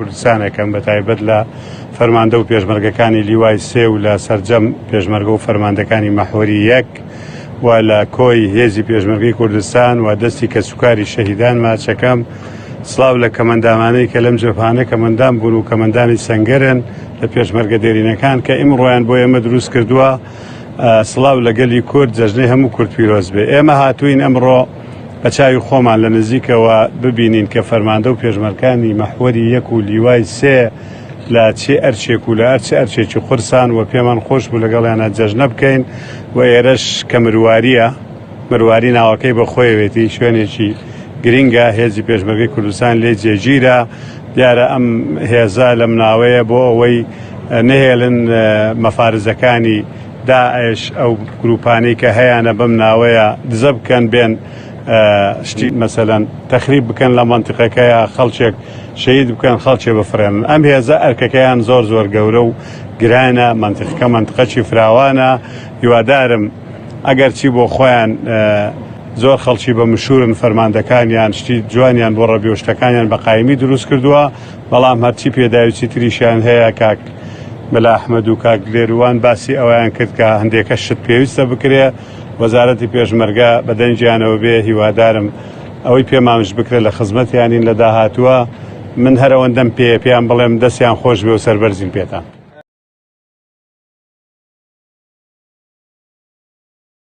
کوردستانەکەم بەتایبەت لە فەرماندە و پێشمەرگەکانی لیوای سێ و لە سەرجەم پێشمەرگە و فەرماندەکانی مەحوەری یەک و لە کۆی هێزی پێشمەرگی کوردستان و دەستی کە سوکاری شەهیدان ماچەکەم سلااو لە کەمەندامانەی کە لەم جەفانە کەمەندان بوون و کەمەندانی سنگەرن لە پێشمەرگە دێرینەکان کە ئیم ڕۆیان بۆ ئێمە دروست کردووە سلااو لەگەلی کورد جەژنەی هەموو کورد پیرۆز بێ ئێمە هاتوین ئەمڕۆ بە چاوی خۆمان لە نزیکەوە ببینین کە فەرماندە و پێشمەرکانی مەحوەری یەک و لیوای سێ لە چێ ئەرچێک و لە ئەرچ ئەرچێکی قورسان و پێمان خۆش بوو لەگەڵیانا جەژنە بکەین و ئێرەش کە مروارییە مرواری ناوەکەی بە خۆیەوێتی شوێنێکی گرینگە هێزی پێشمەرگەی کوردستان لێی جێگیرە دیارە ئەم هێزە لەم ناوەیە بۆ ئەوەی نەهێلن مەفارزەکانی داعش ئەو گروپانەی کە هەیانە بەم ناوەیە دزە بکەن بێن شتی مەسەلەن تەخریب بکەن لە مەنتیقەکەیە خەڵچێک شەید بکەن خەڵچێ بفرێنن ئەم هێزە ئەرکەکەیان زۆر زۆر گەورە و گرانە مەنتیقەکە مەنتقەچی فراوانە هیوادارم ئەگەر چی بۆ خۆیان زۆر خەڵکی بە مشورن فەرماندەکانیان شتی جوانیان بۆ ڕەبیۆشتەکانیان بە قایمی دروست کردووە بەڵام هەرچی پێداویستی تریشیان هەیە کاک مەلا ئەحمەد و کاک لێروان باسی ئەوەیان کرد کە هەندێکە شت پێویستە بکرێ وەزارەتی پێشمەرگە بە دەنگیانەوە بێ هیوادارم ئەوەی پێمانش بکرێ لە خزمەتیانین لە داهاتووە من هەر ئەوەندەم پێیە پێیان بڵێم دەستیان خۆش بێ و سەربەرزین پێتان.